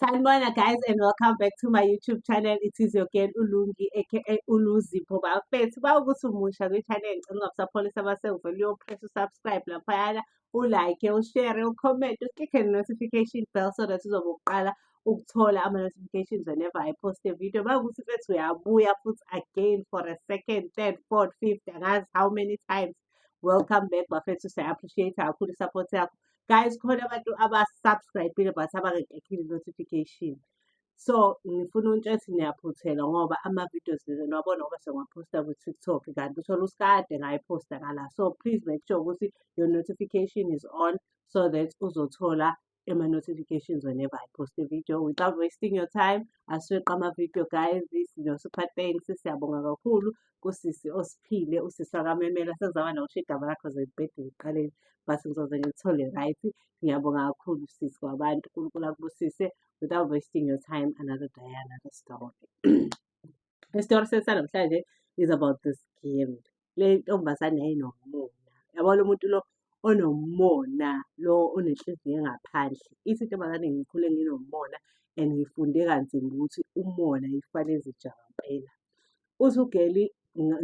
Sanibona guys and welcome back to my YouTube channel. It is your girl Ulungi aka Uluzipho bafethu. Bawukuthi umusha kwi-channel ngicela ukubasapholisa abasengivele uyopress usubscribe laphayana, ulike, ushare, ucomment, uclick-e notification bell so that uzobe uqala ukuthola ama-notifications whenever I post a video. Bawukuthi mfethu uyabuya futhi again for a second, third, fourth, fifth, angazi how many times. Welcome back bafethu. Siya-appreciate kakhulu i-support yakho. guys khona abantu abasubscribile but abangekhekhile notification so ngifuna ukuntsha ukuthi niyaphuthela ngoba ama-videos lena niwabona ngoba sengiwaphosta kwi-tiktok kanti uthole usikade ngayiphosta ngala so please make sure ukuthi your notification is on so that uzothola ema-notifications whenever I post a video without wasting your time. Asiweqa ama-video guys, sinosipha thanks, siyabonga kakhulu. kusisi osiphile usisi akamemela sezaba nokusho igama lakho zebhedile ekuqaleni but ngizoze ngilithole right ngiyabonga kakhulu sisi kwabantu unkulunkulu akubusise without wasting your time another day another story isitori sethu sanamhlanje is about this game le ntombazane yayinomona yabona umuntu lo onomona lo onenhliziyo engaphandle ithi intombazane ngikhule nginomona and ngifunde kanzima ukuthi umona ifane ezijaba impela uthi ugeli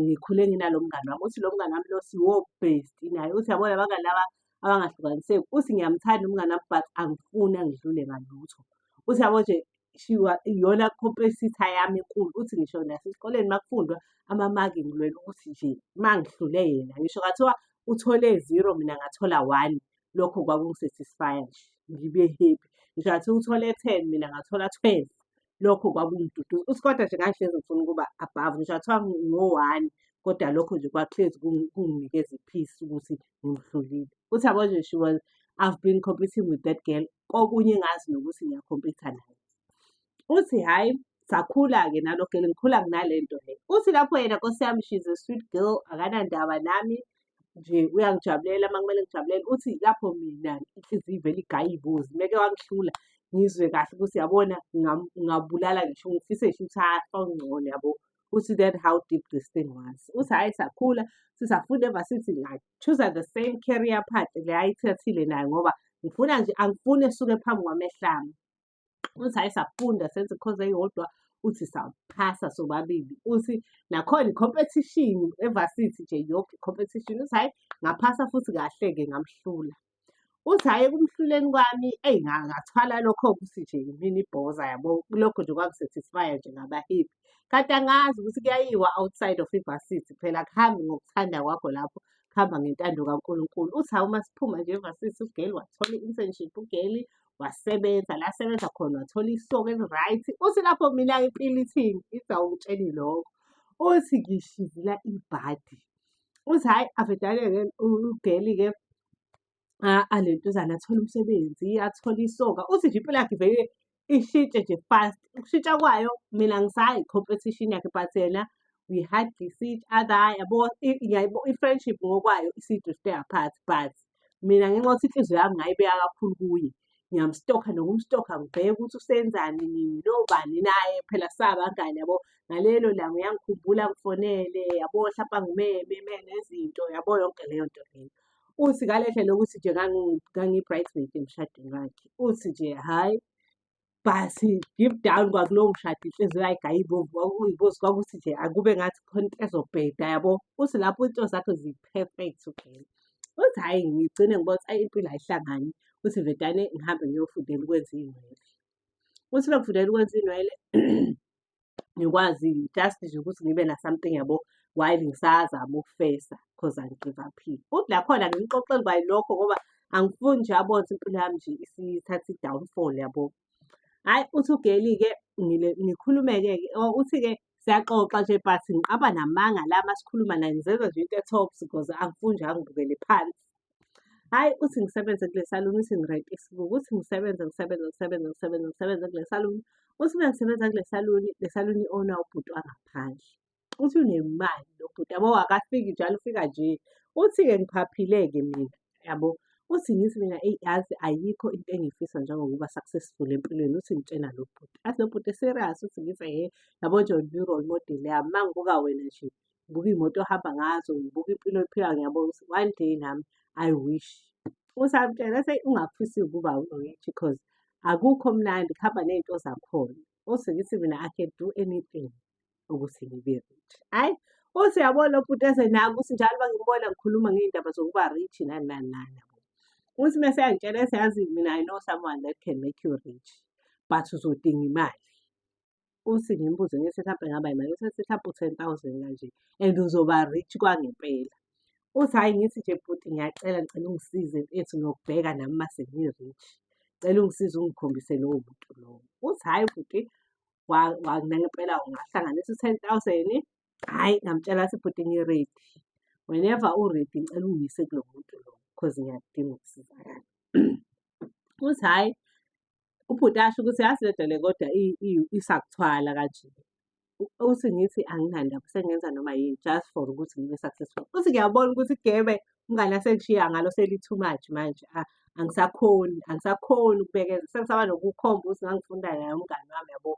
ngikhule nginalo mngani wami uthi lo mngani wami lo siwo-best naye uthi yabona abangani laba abangahlukaniseki uthi ngiyamthanda umngani wami but angifuni angidlule ngalutho uthi yabo nje shiwa iyona competitor yami enkulu uthi ngisho nasesikoleni uma kufundwa amamaki ngilwela ukuthi nje uma ngihlule yena ngisho kathiwa uthole zero mina ngathola one lokho kwakungisatisfya nje ngibe happy ngisho ngathi uthole ten mina ngathola twelve lokho kwakungiduduza uScotta nje ngangihlezi ngifuna ukuba above ngisho athiwa ngo-one kodwa lokho nje kwakuhlezi kunginikeza i-peace ukuthi ngimhlulile uthi yabo nje she was i've been competing with that girl kokunye ngazi nokuthi ngiyakhompitha naye uthi hhayi sakhula-ke nalogele ngikhula nginale nto le uthi lapho yena nkosi yami she's a sweet girl akanandaba nami nje uyangijabulela uma kumele ngijabulele uthi lapho mina inhliziyo ivele igaya ibuzi meke wangihlula ngizwe kahle ukuthi yabona ngabulala ngisho ngifise ngisho ukuthi afa ungcono yabo uthi that how deep this thing was uthi hhayi sakhula sisafunda eva sithi choose the same career path le ayithathile nayo ngoba ngifuna nje angifuni esuke phambi kwamehlami uthi hayi safunda senze ikhozi eyodwa uthi saphasa sobabili uthi nakhona i-competition evasithi nje yoke i-competition uthi hayi ngaphasa futhi kahle-ke ngamhlula uthi hhayi ekumhluleni kwami eyi ngathwala lokho ukuthi nje yimini ibhoza yabo lokho nje kwakusatisfya nje ngabahipi kanti angazi ukuthi kuyayiwa outside of ivasithi phela kuhambi ngokuthanda kwakho lapho kuhamba ngentando kankulunkulu uthi hawu uma siphuma nje evasithi ugeli wathola i-internship ugeli wasebenza la asebenza khona wathola ihloko eli-right uthi lapho mina impilo ithini ithi awungitsheni lokho uthi ngishizila ibhadi uthi hhayi avedane-ke ugeli-ke alentuzana athole umsebenzi athole isoka uthi nje impilo yakhe vele ishintshe nje fast ukushintsha kwayo mina ngisayi competition yakhe but yena we hug each other yabo yabo i-friendship ngokwayo isidrifte apart but mina ngenxa yokuthi inhliziyo yami ngayibeka kakhulu kuye ngiyamstokha nokumstokha ngibheke ukuthi usenzani nini nobani naye phela sabangani yabo ngalelo langa uyangikhumbula ngifonele yabo hlampe angimeme eme nezinto yabo yonke leyo nto leyo uthi ngalehle lokuthi nje ngangi-bridesmaid emshadweni wakhe uthi nje hhayi bhasi give down kwakulowo mshado inhliziyo yayigaya ibomvu uyibozi kwakuthi nje akube ngathi khona into ezobheda yabo uthi lapho into zakho zi-perfect ugxela uthi hhayi ngigcine ngibona ukuthi ayi impilo ayihlangani uthi vedane ngihambe ngiyofundela ukwenza iy'nwele uthi mekufundela ukwenza iy'nwele ngikwazi just nje ukuthi ngibe na something yabo while ngisazama ukufesa because angigive up uthi lakhona ngimxoxeli kwayi lokho ngoba angifuni nje abone impilo yami nje isithatha i-downfall yabo hhayi uthi ugeli-ke ngikhulume-ke oh, uthi-ke siyaxoxa nje but ngiqaba namanga la masikhuluma naye ngizenza nje into e-tops because angifuni nje angibukele phansi Hhayi uthi ngisebenze kule saluni uthi ngirente isibuko, uthi ngisebenze, ngisebenze, ngisebenze, ngisebenze, ngisebenze kule saluni. Uthi uma ngisebenza kule saluni, le saluni i-ownwa ubhuti wangaphandle. Uthi unemali lo bhuti yabo, akafiki njalo ufika nje. Uthi-ke ngiphaphile-ke mina yabo. Uthi ngithi mina eyi yazi ayikho into engiyifisa njengokuba successful empilweni, uthi ngitshena lo bhuti. Athi lo bhuti serious uthi ngithi hhe yabo nje u-role model yami, uma ngibuka wena nje ngibuka iy'moto ohamba ngazo, ngibuka impilo oyiphilayo ngiyabona ukuthi one day nami I wish. Usamtshela ethi ungafisi ukuba u-rich cause akukho mnandi kuhamba ney'nto zakhona. Uthi ngithi mina I can do anything ukuthi ngibe rich. Hhayi, uthi uyabona lo bhuti eze nami ukuthi njalo uma ngimbona ngikhuluma ngey'ndaba zokuba rich nani nani nani yabo. Uthi uma eseyangitshela ethi yazi mina I know someone that can make you rich but uzodinga imali. Uthi ngimbuze ngithi mhlampe ngaba yimali uthi athi mhlampe u-ten thousand kanje and uzoba rich kwangempela. Uthi hhayi ngithi nje bhuti ngiyacela ngicela ungisize mfethu ngiyokubheka nami uma sengi-rich. Ngicela ungisize ungikhombise lowo muntu lowo. Uthi hhayi bhuti nangempela ungahlanganisa u-ten thousand. Hhayi ngamtshela ngathi bhuti ngi-ready. Whenever u-ready ngicela ungiyise kulo muntu lo cause ngiyakudinga ukusizakala. Uthi hhayi Ubhuti asho ukuthi yazi le nto le kodwa i- i- isakuthwala kanje. U- Uthi ngithi anginandaba sengenza noma yini just for ukuthi ngibe successful. Uthi ngiyabona ukuthi igebe umngane asengishiya ngalo seli too much manje. A- Angisakhoni, angisakhoni ukubekeza. Sengisaba nokukhomba ukuthi ngangifunda naye umngane wami yabo.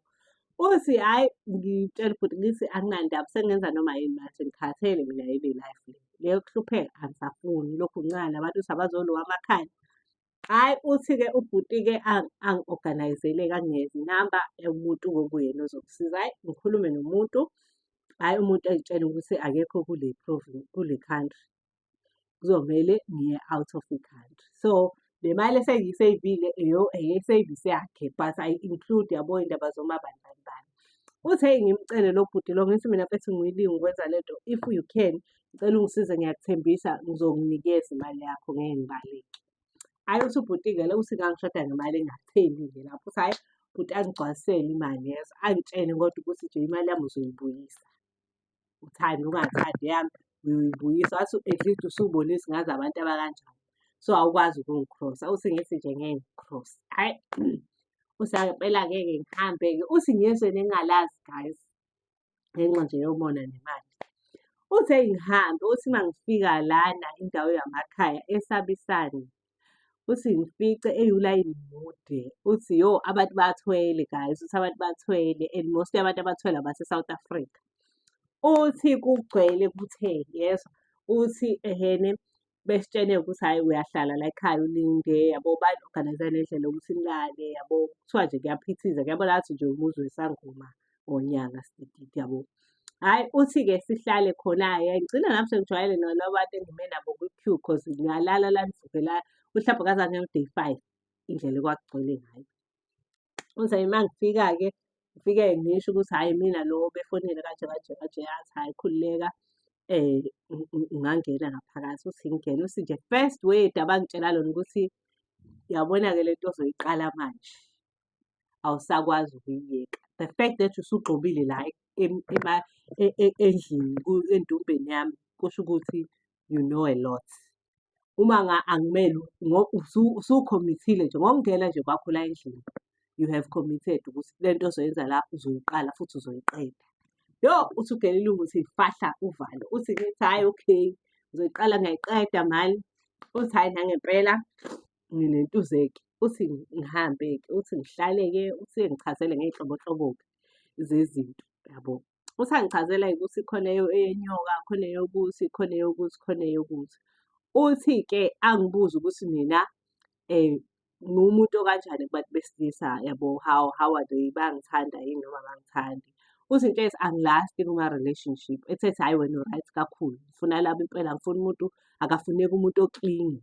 Uthi hayi ngitshela ubhuti ngithi anginandaba sengenza noma yini manje ngikhathele mina yile life le. Leyo kuhlupheka angisafuni lokhu ngincane abantu ukuthi abazolowa amakhaya. Hhayi uthi-ke ubhuti-ke angi-organise-le angingezi inamba yomuntu okuyena ozokusiza. Hhayi ngikhulume nomuntu, hhayi umuntu engitshele ukuthi akekho kule kule country. Kuzomele ngiye out of the country. So le mali esengiyiseyivile eyeseyivisi yakhe but ayi-include yabo iy'ndaba zoma bani bani bani. Uthi hheyi ngimcele lo bhuti lo ngithi mina mfethu ngiyilungu ukwenza le nto if you can Ngicela ungisize ngiyakuthembisa ngizokunikeza imali yakho ngeke ngibaleke. Hhayi uthi ubhuti-ke lo uthi ngangishoda ngemali engatheni nje lapho uthi hhayi bhuti angigcwalisele imali yezo angitshene kodwa ukuthi nje imali yami uzoyibuyisa. Uthande ungathandi eyami uyoyibuyisa wathi at least usubonisa ngazi abantu abakanjani. So awukwazi ukungikrosa uthi ngithi nje ngeke ngikukhrose. Hhayi uthi ngempela ngeke ngihambe-ke uthi ngizwe nengingalazi guys. ngenxa nje yomona nemali. Uthe ngihambe, uthi uma ngifika lana indawo yamakhaya esabisane, uthi ngifice eyulayini mude, uthi yo abantu bathwele guys, uthi abantu bathwele and mostly abantu abathwele abase-South Africa. Uthi kugcwele kutheni, yezwa? Uthi ehene besitshene ukuthi hhayi uyahlala la ekhaya ulinde yabo bani-organize nendlela yokuthi nilale yabo kuthiwa nje kuyaphithiza kuyabona ngathi nje umuzi wesangoma ngonyaka sidididi yabo hhayi uthi-ke sihlale khona-ke ngigcina nami sengijwayele nalaba bantu engime nabo kwi-q cause ngiyalala la ngivuke la mhlawumbe kaze angiyo day five indlela ekwakugcwele ngayo Uthi hhayi uma ngifika-ke ngifike ngisho ukuthi hhayi mina lo befonile kanje kanje kanje yazi hhayi khululeka um ungangena ngaphakathi uthi ngingena uthi nje first word abangitshela lona ukuthi yabona-ke le nto ozoyiqala manje awusakwazi ukuyiyeka the fact that usugxobile la endlini endumbeni yami kusho ukuthi you know a lot uma nga angimele usukhomithile nje ngokungena nje kwakho la endlini you have committed ukuthi le nto ozoyenza la uzoyiqala futhi uzoyiqeda yo uthi ugelile ukuthi fahla uvalo uthi ngithi hhayi okay ngizoyiqala ngayiqeda mali uthi hhayi nangempela nginentuzeke uthi ngihambe-ke uthi ngihlale-ke uthi ngichazele ngey'nhlobonhlobo-ke zezinto yabo usangichazela ukuthi khona eyenyoka khona eyokuthi khona eyokuthi khona eyokuthi uthi-ke angibuze ukuthi mina um ngumuntu okanjani kubantu besilisa yabo how how are they bangithanda yini noma bangithandi uthi into ethi angilasti kuma-relationship ethethi hhayi wena uright kakhulu ngifuna laba impela ngifuna umuntu akafuneki umuntu oklingi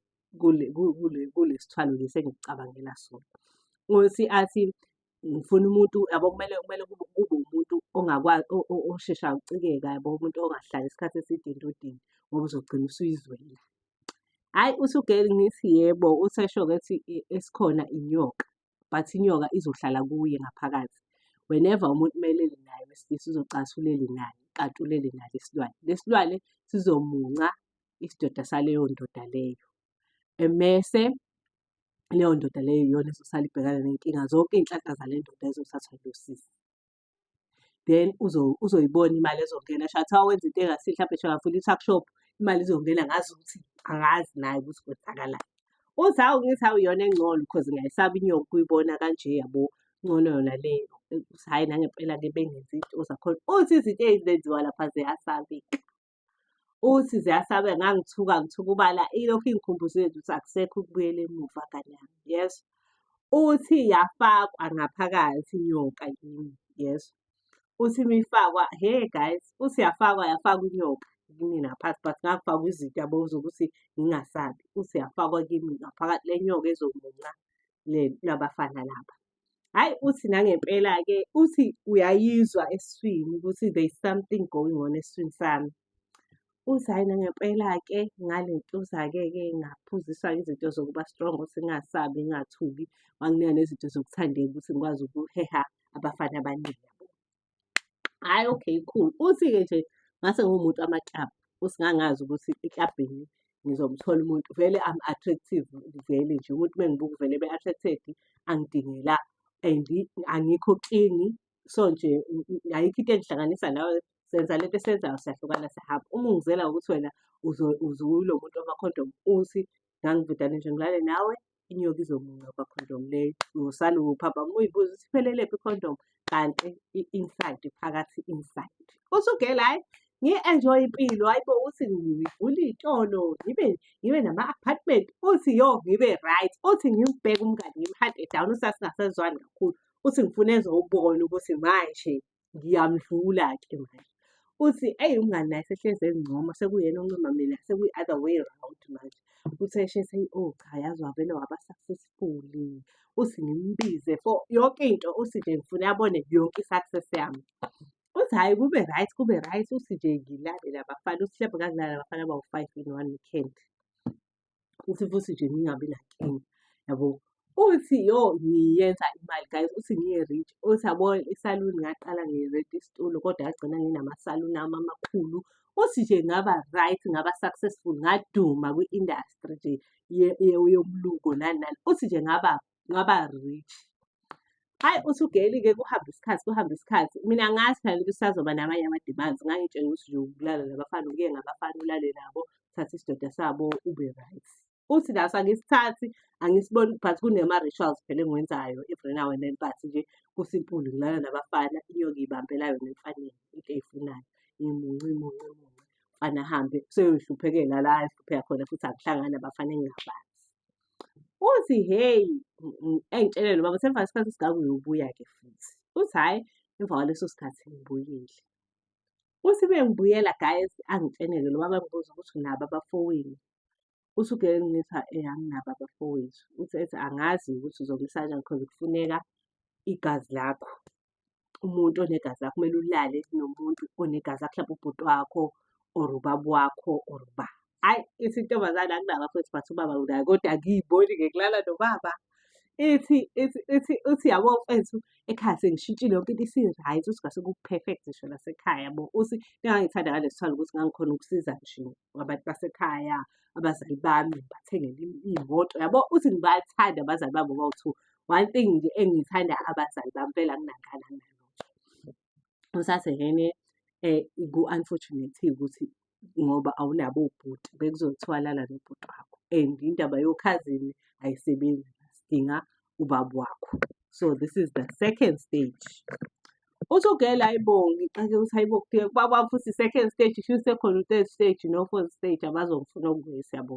kule sithwalo lesi engikucabangela sona ngothi athi ngifuna umuntu yabo kumele kumele kube kube umuntu ongakwazi oshesha ucikeka yabo umuntu ongahlali isikhathi eside into odini ngoba uzogcina usuyizwela hhayi usugeli ngithi yebo usesho ukuthi esikhona inyoka but inyoka izohlala kuye ngaphakathi whenever umuntu umelele naye wesilisa uzocasulele naye kanti ulele naye isilwane lesilwane sizomunca isidoda saleyo ndoda leyo emese leyo ndoda leyo iyona ezosala ibhekana ney'nkinga zonke iy'nhlanhla zale ndoda ezothathwa yilo sisi. Then uzoyibona imali ezongena sho kuthiwa wenza into engasihle mhlampe sho ngavula i-tuck shop imali izongena ngazi ukuthi angazi naye ukuthi kwenzakalani. Uthi hawu ngithi hawu iyona engcono cause ngiyayisaba inyoka ukuyibona kanje yabo ngcono yona leyo. Uthi hhayi nangempela-ke bengenzi izinto zakhona. Uthi izinto ezenziwa lapha ziyasabeka. uthi ziyasabe ngangithuka ngithuka ubala ilokhu ingikhumbuza yethu ukuthi akusekho ukubuyela emuva ngane yami yes uthi yafakwa ngaphakathi inyoka yini yes uthi mifakwa hey guys uthi yafakwa yafakwa inyoka kimi ngaphansi but ngakufaka izinto yabo zokuthi ngingasabi uthi yafakwa kimi ngaphakathi le nyoka ezomunca le labafana laba Hhayi uthi nangempela-ke uthi uyayizwa eswini ukuthi there is something going on eswini sami. Uthi hhayi nangempela-ke ngale ntuza-ke-ke ngaphuziswa izinto zokuba strong ukuthi ngingasabi, ngingathuki, wanginika nezinto zokuthandeka ukuthi ngikwazi ukuheha abafana abaningi. Hhayi okay cool. Uthi-ke nje ngase ngiwumuntu wamaklabhu, uthi ngangazi ukuthi eklabhini ngizomthola umuntu vele I'm attractive vele nje. Umuntu uma engibuka uvele ebe attracted, angidingi la and angikho clingy. So nje ayikho into engihlanganisa nawe, senza le nto esiyenzayo siyahlukana siyahamba. Uma ungizela ngokuthi wena uze ulo muntu wamakhondomu, uthi ngangivedane nje ngilale nawe, inyoka izomunqoba condom leyo ngosale uphapha muyibuza ukuthi iphelelephi condom kanti i-inside phakathi inside usugela hayi ngi-enjoy impilo hayi bo uthi ngivule iy'tolo ngibe ngibe nama-apartment uthi yo ngibe right uthi ngimbheke umngani ngimhade down usasingasezwani kakhulu uthi ngifuna ezowubona ukuthi manje ngiyamdlula-ke manje uthi eyi umngani naye sehlezi ezincoma sekuyena oncoma mina sekuyi-other way round manje uthi eshese o oh, cha yazi wavele waba successfully uthi ngimbize for yonke into uthi nje ngifuna abone yonke i-success yami uthi hhayi kube right kube right uthi nje ngilalele abafana uthi hlampe ngakulala abafana bawu-five in one weekend ukuthi futhi nje ngingabi nankinga yabo uthi yo ngiyenza imali guys uthi ngiye-rich uthi yabo isaluni ngaqala ngi-rent isitulo kodwa yagcina nginamasaluni ami amakhulu uthi nje ngaba right ngaba successful ngaduma kwi-industry nje yomluko nani nani uthi nje ngaba ngaba rich hayi uthi ugeyilike kuhambe isikhathi kuhambe isikhathi mina ngazi phela ukuthi sazoba namanye ama-demands ngangitshela ukuthi nje ukulala nabafana uke ngabafana ulale nabo thatha isidoda sabo ube right uthi naso angisithathi angisiboni but kunema-rituals phela engiwenzayo every now and then but nje kusimpulu ngilala nabafana inyoka ibambela yona emfaneni into eyifunayo imunci munci munci mfana ahambe seyoyihluphekela la ehlupheka khona futhi akuhlangani abafana engingabazi uthi hheyi engitshelele baba semva isikhathi esingaka uyobuya-ke futhi uthi hhayi emva kwaleso sikhathi ngibuyile uthi bengibuyela guys angitshenele lo baba ngibuza ukuthi nabo abafowenu uthi ugeke ngithi anginabo abafowethu uthi ethi angazi ukuthi uzongisa kanjani because kufuneka igazi lakho umuntu onegazi lakho kumele ulale nomuntu onegazi lakho mhlawumbe ubhuti wakho or ubaba wakho or uba hayi ithi intombazane akunabafowethu but ubaba unayo kodwa ngiyiboni ngikulala nobaba ithi ithi ithi uthi yabo mfethu ekhaya sengishintshile yonke into isi-right uthi ngase ku-perfect ngisho nasekhaya yabo uthi ningangithanda ngalesi thwala ukuthi ngangikhona ukusiza nje ngabantu basekhaya abazali bami bathengele iy'moto yabo uthi ngibathanda abazali bami ngoba uthu one thing nje engiyithanda abazali bami phela nginangani anginalutho usasengene um eh, ku-unfortunate ukuthi ngoba awunabo ubhuti bekuzothiwa lala nobhuti wakho and indaba yokhazini ayisebenzi sidinga ubaba wakho so this is the second stage Uthi ugela ayibongi xake ukuthi hayibo kuye kwaba futhi second stage isho isekhona u-third stage no-fourth stage abazongifuna okuye siyabo.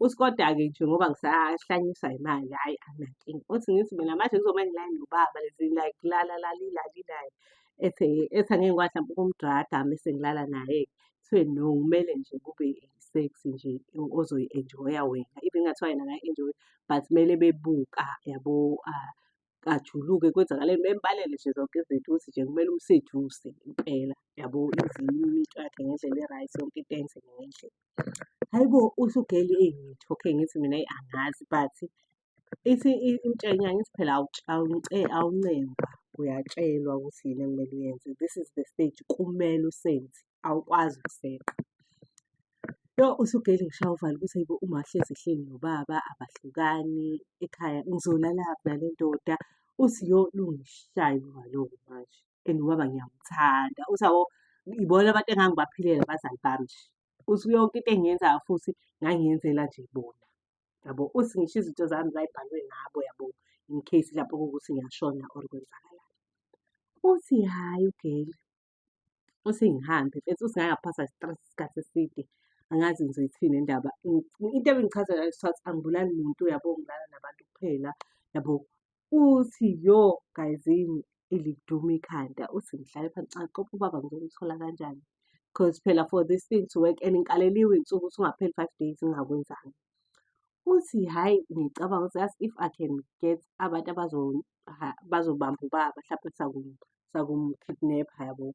Uthi koda-ke nje ngoba ngisahlanyiswa yimali hhayi anginankinga. Uthi ngithi mina manje kuzomele ngilale nobaba lezi like lala lali lali naye ethi ethi angeke ngikwazi mhlawumbe ukumdrada mese ngilala naye-ke. Kuthiwe no kumele nje kube i-sex nje ozoyi-enjoy-a wena. Even kungathiwa yena akayi-enjoy-i but kumele bebuka yabo ajuluke kwenzakaleni bembalele nje zonke izinto ukuthi nje kumele umseduse impela yabo izilimi into yakhe ngendlela e-right yonke into enzeke ngendlela hhayi bo usugeli eyingithi okay ngithi mina eyi angazi but ithi imtshenya ngithi phela awuncengwa uyatshelwa ukuthi yini ekumele uyenze this is the stage kumele usenze awukwazi ukuseqa. Yo usugeyile ngishaya uvalo ukuthi ayibo uma ahlezi ehleli nobaba abahlukani ekhaya ngizolala nale ndoda uthi yo lungishaya uvalo-ke manje and ubaba ngiyamthanda uthi awo ibona abantu engangibaphilela abazali bami nje uthi yonke into engiyenzayo futhi ngangiyenzela nje bona yabo uthi ngisho izinto zami zayibhalwe ngabo yabo in case lapho kuwukuthi ngiyashona or kwenzakalani uthi hhayi ugeyile uthi ngihambe mfethu uthi ngake ngaphasa stress isikhathi eside angazi ngizoyithini indaba into ebingichaza ngayo sithathu angibulali muntu yabo ngilala nabantu kuphela yabo uthi yo gayizini iliduma ikhanda uthi ngihlale phansi xa qopha ubaba ngizokuthola kanjani because phela for this thing to work and ngikaleliwe insuku ukuthi ungapheli five days ngingakwenzanga uthi hhayi ngicabanga ukuthi as if i can get abantu bazobamba ubaba mhlawumpe sakuba sakumkidnapha yabo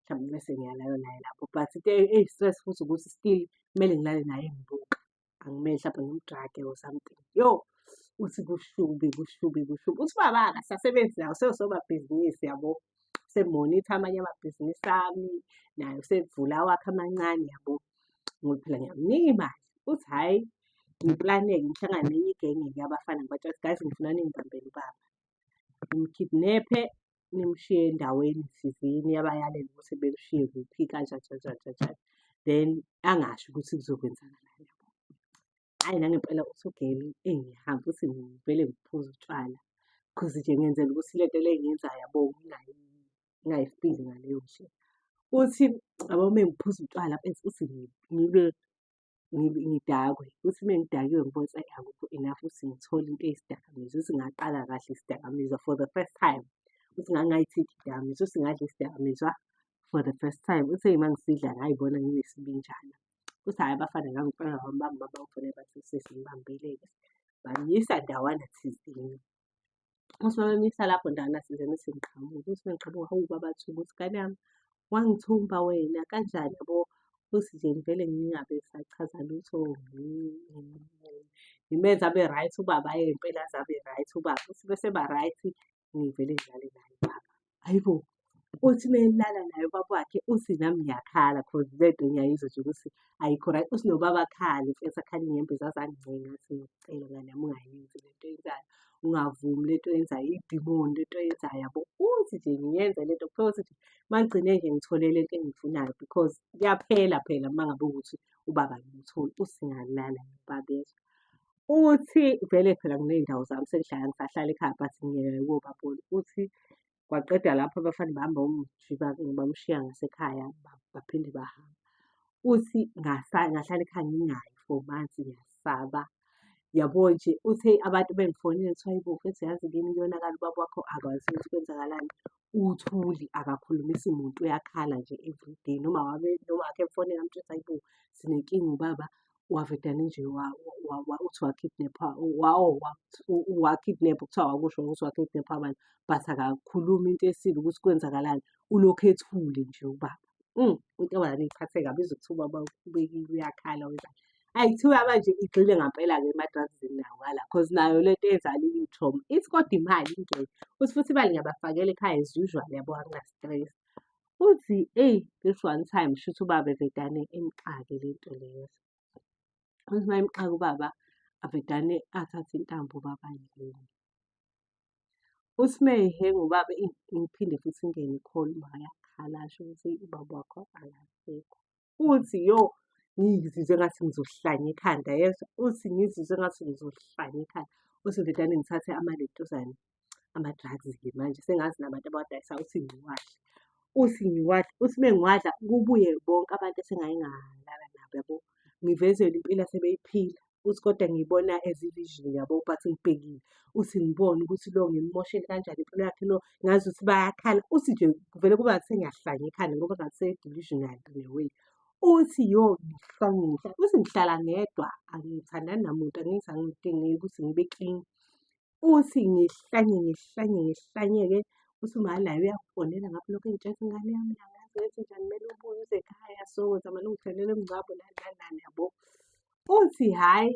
mhlawumbe bese ngiyalala naye lapho but into e-, eyi-stress futhi ukuthi still kumele ngilale naye ngibuka angimele mhlawumbe ngimdrage or something yo uthi kushubi kushubi kushubi uthi baba akasasebenzi nawo seyosobabhizinisi yabo semonitha amanye amabhizinisi ami naye usevula awakhe amancane yabo ngoba phela ngiyamnika imali uthi hhayi ngiplaneke ngihlangane nenye igenge-ke abafana ngibatshela ukuthi guys ngifuna ningibambele ubaba ngimkidnephe nimshiye endaweni thizeni yabayalela ukuthi bekushiye kuphi kanjajanjajanjani then angasho ukuthi kuzokwenzakalani yabo. Hhayi nangempela usugele engihamba uthi ngivele ngiphuze utshwala cause nje ngenzela ukuthi le nto le engiyenzayo yabo ngingayifili ngaleyo ndlela. Uthi yabo uma ngiphuza utshwala bese uthi ngibe ngidakwe ukuthi uma ngidakiwe ngibona ukuthi akukho enough ukuthi ngithole into eyisidakamizi ukuthi ngaqala kahle isidakamizwa for the first time ukuthi ngangayithithi idakamizwa ukuthi ngadla isidakamizwa for the first time uthe uma ngisidla ngayibona nginesibinjana ukuthi hhayi abafana ngangifana wami bami baba ufune bathi sesingibambeleke bangiyisa ndawana thizini Uthi uma bemisa lapho ndala sizeni sengiqhamuka. Uthi uma ngiqhamuka, hawu baba Thuba, uthi ngane yami wangithumba wena kanjani yabo. Uthi nje ngivele ngingabe sachaza lutho ngimenze abe right ubaba yena impela aze abe right ubaba. Uthi bese eba right ngivele ngidlale naye ubaba. hhayi bo uthi uma elala naye ubaba wakhe uthi nami ngiyakhala cause le nto ngiyayizwa nje ukuthi ayikho right uthi nobaba akhale mfethu akhale inyembezi aze angincenga athi ngicela ngane yami ungayenzi le nto yenzayo ungavumi le nto yenzayo idimoni le nto yenzayo yabo uthi nje ngiyenze le nto kuphela ukuthi nje uma ngigcine nje ngithole le nto engiyifunayo because kuyaphela phela uma ngabe ukuthi ubaba ngimtholi usingalala nobaba yezwa Uthi vele phela nginey'ndawo zami sengihlala ngisahlala ekhaya but ngiyeke ukuyobabona. Uthi kwaqeda lapho abafana bahamba bamjika bamshiya ngasekhaya baphinde bahambe. Uthi ngahlala ekhaya ngingayi for months ngiyasaba. Yabo nje uthe abantu bengifonile kuthiwa hhayi bo mfethu yazi kimi kuyonakala ubaba wakho akwazi ukuthi kwenzakalani. Uthuli akakhulumisi muntu uyakhala nje everyday noma noma wakhe emfonela amtshela ukuthi hhayi bo sinenkinga ubaba wavedane nje uthi wakidnepha wakidnepha kuthiwa wakusho ukuthi wakidnepha abantu but akakhulumi into esile ukuthi kwenzakalani ulokhu ethule nje ubaba mm, intombazane iphathe kabi ize kuthiwa ubaba ubekile uyakhala wenzani ayi kuthiwa manje igxile ngampela-ke emadrazini nawo ngala cause nayo le nto ezala iyithoma ithi kodwa imali ingeke uthi futhi imali ngiyabafakela ekhaya as usual yabo angina-stress Uthi eyi this one time shuthi ubaba evedane imxake le nto leyo. Uthi uma imxaka ubaba avedane athathe intambo ubaba yini. Uthi uma ehenga ubaba ingiphinde futhi ingene ikhona uma yakhala asho ukuthi ubaba wakho akasekho. uthi yo ngizizwe ngathi ngizohlanya ikhanda yezwa uthi ngizizwe ngathi ngizohlanya ikhanda uthi ndodane ngithathe amalentuzane ama-drugs-ke manje sengazi nabantu abawadayisa uthi ngiwadle uthi ngiwadle uthi uma ngiwadla kubuye bonke abantu esengayingalala nabo yabo ngivezelwe impilo asebeyiphila uthi kodwa ngiyibona as i-vision yabo but ngibhekile uthi ngibone ukuthi lo ngimmoshele kanjani impilo yakhe lo ngazi ukuthi bayakhala uthi nje kuvele kuba ngathi sengiyahlanya ekhanda ngoba ngathi se-delusional in a way uthi yo ngihlanyisa uthi ngihlala ngedwa angithandani namuntu angithi angidingeki ukuthi ngibe clean uthi ngihlanye ngihlanye ngihlanyeke uthi uma layo uyakufonela ngapha lokho engitshela ingane yami yangazi ukuthi njani kumele ubuye uze ekhaya so zamele ungithelele umngcwabo nani nani nani yabo uthi hhayi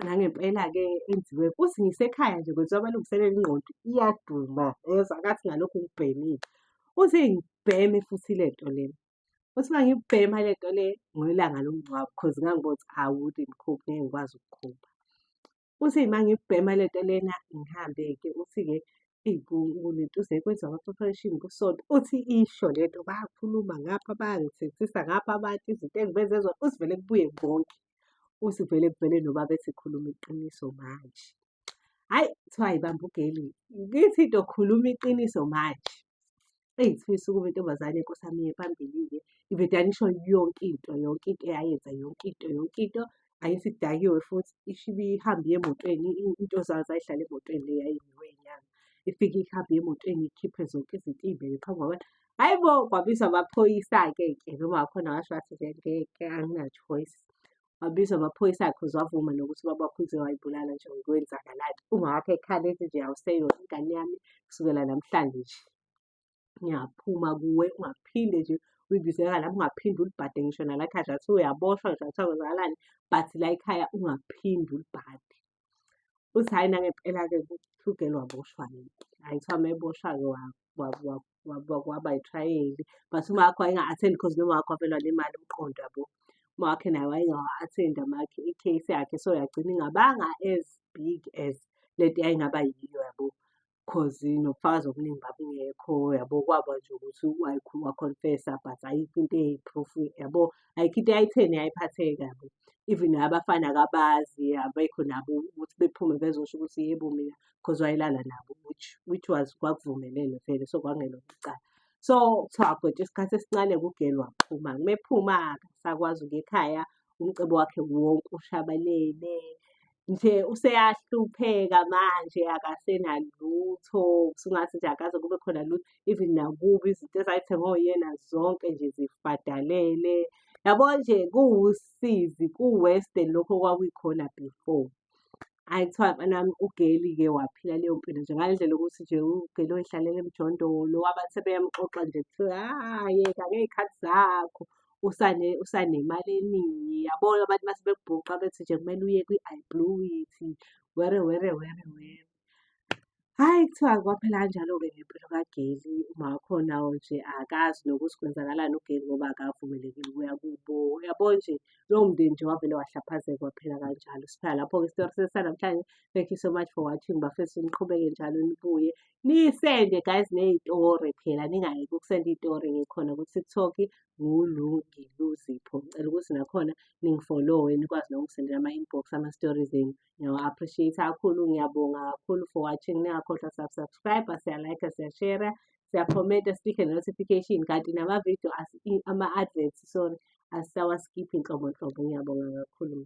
nangempela-ke enziwe uthi ngisekhaya nje kwenziwa amalungiselelo ingqondo iyaduma yezwa kathi ngalokhu ngibhemile uthi ngibheme futhi le nto lena uthi uma ngibhema le nto le ngoyilanga lomngcwabo because ngangibona ukuthi awude mkhuphi ngeke ngikwazi ukukhupha Uthi uma ngibhema le nto lena ngihambe-ke uthi-ke kunentuza ekwenza ama-preparation kusonto. Uthi isho le nto bayakhuluma ngapha bayangithethisa ngapha abantu izinto engibenze zona. Uthi vele kubuye konke. Uthi vele kuvele nobaba ethi khuluma iqiniso manje. Hhayi kuthiwa yibamba ugeli. Ngithi ngizokhuluma iqiniso manje. Eyi sifisa ukuba intombazane Nkosi yami iye phambili-ke. Indodana isho yonke into, yonke into eyayenza, yonke into, yonke into. Ayithi idakiwe futhi isho ibe ihamba iya emotweni, i- into zayo zayihlala emotweni le yayimiwe inyanga. Ifike ihambe iya emotweni ikhiphe zonke izinto iy'beke phambi kwabantu. Hhayi bo, kwabizwa amaphoyisa-ke ke noma wakhona washo wathi nje ngeke angina-choice. wabizwa amaphoyisa akhe uzwavuma nokuthi ubaba wakho uze wayibulala nje kwenzakalani ungawakho ekhala ethi nje awuseyona ingane yami kusukela namhlanje nje ngiyaphuma kuwe ungaphinde nje uyibizela lapho ungaphinde ulibhade ngisho nalakhaya athi uyaboshwa ngisho athi akwenzakalani but la ekhaya ungaphinde ulibhade uthi hhayi nangempela-ke kuhlugelwa boshwa-ke hhayi kuthiwa meboshwa-ke waba yitrayeli but uma wakho wayenga-athendi because noma wakho wavelwa nemali umqondo yabo uma wakhe naye wayengawa-athendi amakhe i-case yakhe so yagcina ingabanga as big as lento yayingaba yiyo yabo cause nobufakazi obuningi babungekho yabo kwaba nje ukuthi wakhonfesa but ayikho into eyi-proof yabo ayikho into eyayitheni yayiphatheka yabo even abafana kabazi abekho nabo ukuthi bephume bezosho ukuthi yebo mina because wayelala nabo which which was kwakuvumelene vele so kwakungelo icala so kuthiwa kodwa isikhathi esincane kugeli waphuma mephuma akasakwazi ukuya ekhaya umcebo wakhe wonke ushabalele nje useyahlupheka manje akasenalutho usungathi nje akaze kube khona lutho even nakubi izinto ezayithengwe uyena zonke nje zifadalele yabo nje kuwusizi ku-western lokho okwakuyikhona before Hhayi kuthiwa mntanami uGeli-ke waphila leyo mpilo nje ngale ndlela yokuthi nje uGeli oyihlalele emjondolo abantu sebeyamxoxa nje kuthiwa hhayi yeka ngey'khathi zakho usane usanemali eningi yabo abantu mase bekubhuqa bethi nje kumele uye kwi-I blew it were were were were. Hhayi kuthiwa kwaphela kanjalo-ke ngempilo kagesi, umama wakhona nje akazi nokuthi kwenzakalani ugesi ngoba akavumeleki ukuya kubo. Uyabo nje lowo mndeni nje wavele wahlaphazeka waphela kanjalo. Siphela lapho-ke isitori sethu sanamhlanje. Thank you so much for watching bafethu niqhubeke njalo nibuye. Nisende guys ney'tori phela ningayeki ukusenda iy'tori ngikhona ku-TikTok nguLungiluzipho. Ngicela ukuthi nakhona ningifolowe nikwazi nokungisendela ama-inbox ama-stories enu. Ngiyawa appreciate kakhulu, ngiyabonga kakhulu for watching. Ningakhohlwa sub subscribe, siya like, siya share, siya comment, sibike notification kanti nama video as ama adverts sorry asisawa skip inhlobo nhlobo. Ngiyabonga kakhulu.